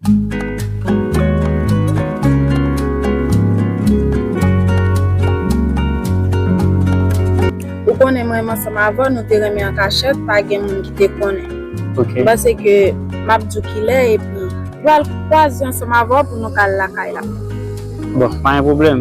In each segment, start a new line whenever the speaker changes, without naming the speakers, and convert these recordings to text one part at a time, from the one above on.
Ou konnen mwen menm ansanm avèw nou te renmen an kachèt pa gen moun ki te konnen. Ok. M panse ke map diw kilè epi pral kwaze ansanm avèw pou nou ka al lakay la. Bon, pa
gen pwoblèm.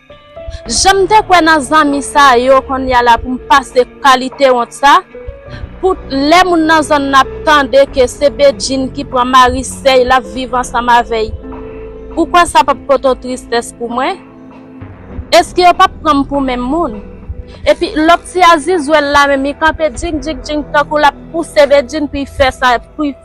Janm te kwè nan zanmi sa yo konnya la poum pase kalite wont sa pou lè moun nan zòn nan ap tande ke se Bedjine ki pran mari sèy lap viv ansanm avèy ou kwè sa pap pote tristès pou mwen eske yo pap pranm pou menm moun epi lòt ti azizwèl la menm li kanpe djing djing djing tankou lap pouse Bedjine pou fè sa.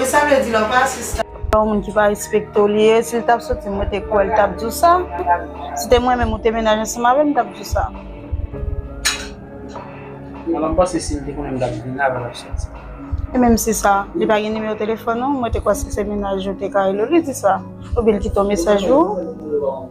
Wi sa vle di lè w pa asiste. Se yon moun ki pa respekte
w li ye, si l t ap soti mwen te kwè l t ap di w sa, si te mwen menm ou te menaj ansanm avè m m t ap di w sa.
Mwen pa m panse si l te konnen m t ap vin avè l ap soti. E menm si
sa, li pa gen nimewo telefòn ou, mwen te kwè si se menaj ou te ka rele w li di sa, oubyen l kite yon mesaj pou ou.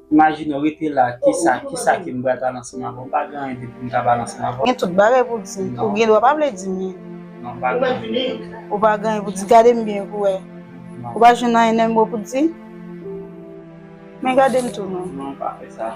Imajine w rete la, kisa, kisa ke m pral pale ansanm avè w? Pa gen anyen de pou m ta pale ansanm avè w. Gen tout bagay pou w di
m. Ou gen dwa pa vle di m li. Non, pa gen anyen
pou m di. Ou pa gen anyen
pou di. Gade m byen pou wè. Non. Ou pa jwenn anyen nan men mwen pou di? Men gade m tou non. Non, pa fè sa.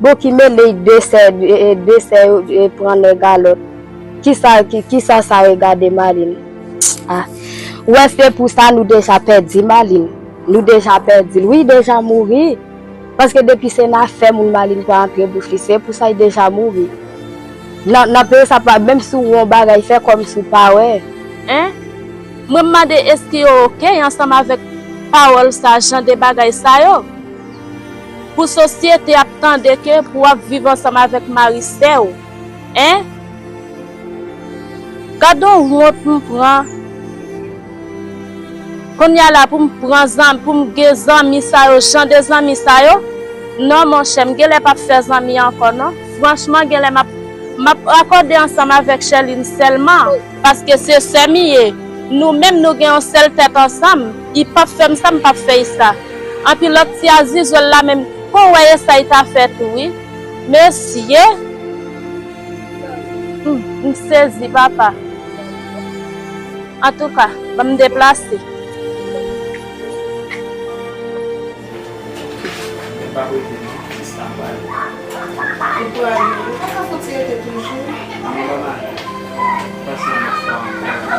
Bon ki mele y de sè de sè yo pran nèg a lòt kisa kisa sa regade Malin ah ou wè se pou sa nou deja pèdi Malin nou deja pèdil wi deja mouri paske depi se nan afè moun Malin pa antre bouch li se pou sa y deja mouri nan nan peyi sa pa menm si w wè yon bagay fè kòm si w pa wè. Hein mwen m mande eske yo ok ansanm avèk pawòl sa jan de bagay sa yo. Pou sosyete ap tande ke pou wap viv ansanm avèk mari sèw hein gadon wont m pran konnya la poum pran zanmi poum gen zanmi sa yo jan de zanmi sa yo non monchè m genlè pap fè zanmi ankò non franchman genlè map map akòde ansanm avèk Sherline sèlman paske
se sè m ye nou menm nou gen yon sèl tèt ansanm. I pap fèm sa m pap fèy sa. Anpi lòt ti azizwèl la menm kon wè esay ta fè tou wi mesye m m sezi papa antouka ban m deplase. Mwen
pa rete non Krisna pwale. Li pwale wi. Ou paka fouti rete toujou. Manman banm ale. Pase yon lòt fwa ankò.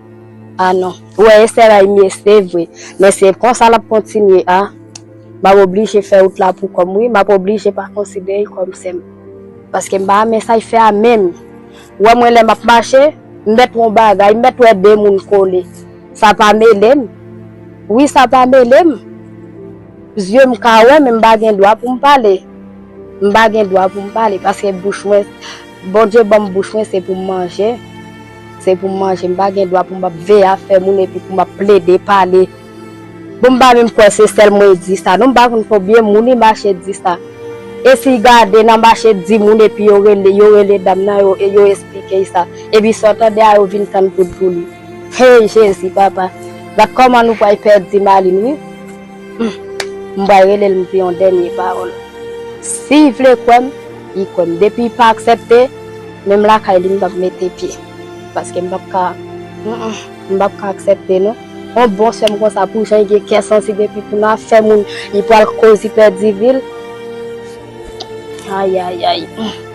Ah non. Ou wè Esther ray mye se vre. Men se konsa lap kontinye a. Map oblije fè wout la pou kòm wi. Map oblije pa konsidere l kòm sè m. Paske m pa renmen sa y fè a menm. Ou wè mwen lè map mache, m mèt wè yon bagay, m mèt wè 2 moun kole. Sa pa mele m. Wi sa pa mele m. Zye m ka wè men m pa gen dwa pou m pale. M pa gen dwa pou m pale. Paske bouch mwen, Bondye ban m bouch mwen se pou m manje. Se pou m manje, m pa gen dwa pou m ap veye afè moun epi pou m ap plede pale. Bon m pa menm kwè se sèl mwen e di sa non, m pa konn konbyen moun li mache di sa. E si y gade nan mache di moun epi yo rele, yo rele dam nan yo e yo esplike y sa. Epi sa w tande a yo vin tann poud pou li. Hey Jezi papa! Gad kòman nou pray pèdi Maline wi. Humm m pral rele l m di yon dènye pawòl si y vle kwè m li kwè m depi y pa aksèpte menm lakay li m pap mete pye paske m pap ka humm m pap ka aksèpte non yon bon sè m konsa pou jan y gen kè santi depi pou nan afè moun li pral koz li pèdi vi l ayayayy humm.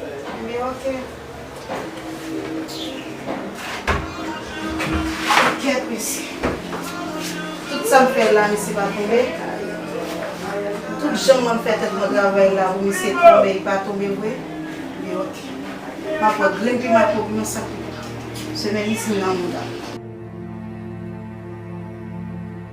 Fime ok. Kèt mesye. Tout sa m fè la misye pa tonbe. Tout jan mwen fè tèt mwen travay la pou misye tonbe li pa tonbe vre. Li ok. M ap pran grenn piman ak yon piman san piment. Semèn isin nan mouda.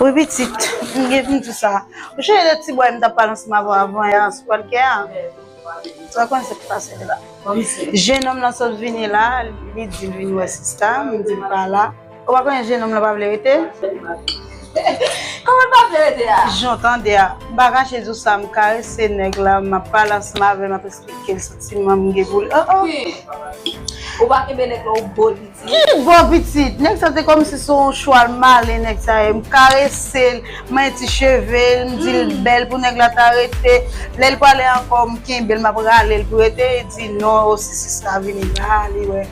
Wi pitit,
m gen pou m di w sa. Ou sonje de ti bway m t ap pale ansanm avè w avan yè a sou pòdkè a? Sa w konnen sa ki pase la? Jenòm lan sot vini la, li di l vin wè sista, m di l pa la. Ou pa konnen jenòm la pa vle rete? Kòman
l pa vle rete a? Jan w tande a. M pa
kache di w sa, m karese nèg la, m ap pale ansanm avè l, m ap esplike l santiman m gen pou li. Oh oh!
Ki? Ou pa kenbe nèg la ou bo l pitit? Ki bo pitit?
Nèg sa se kòmsi se yon chwal malen nèg sa ye. M karese l, m manyen ti cheve l, m di l bèl pou nèg la ta rete. Lè l pale ankò, m kenbe l, m ap rale l pou rete, li di non, oh si sis la vini la, li wè.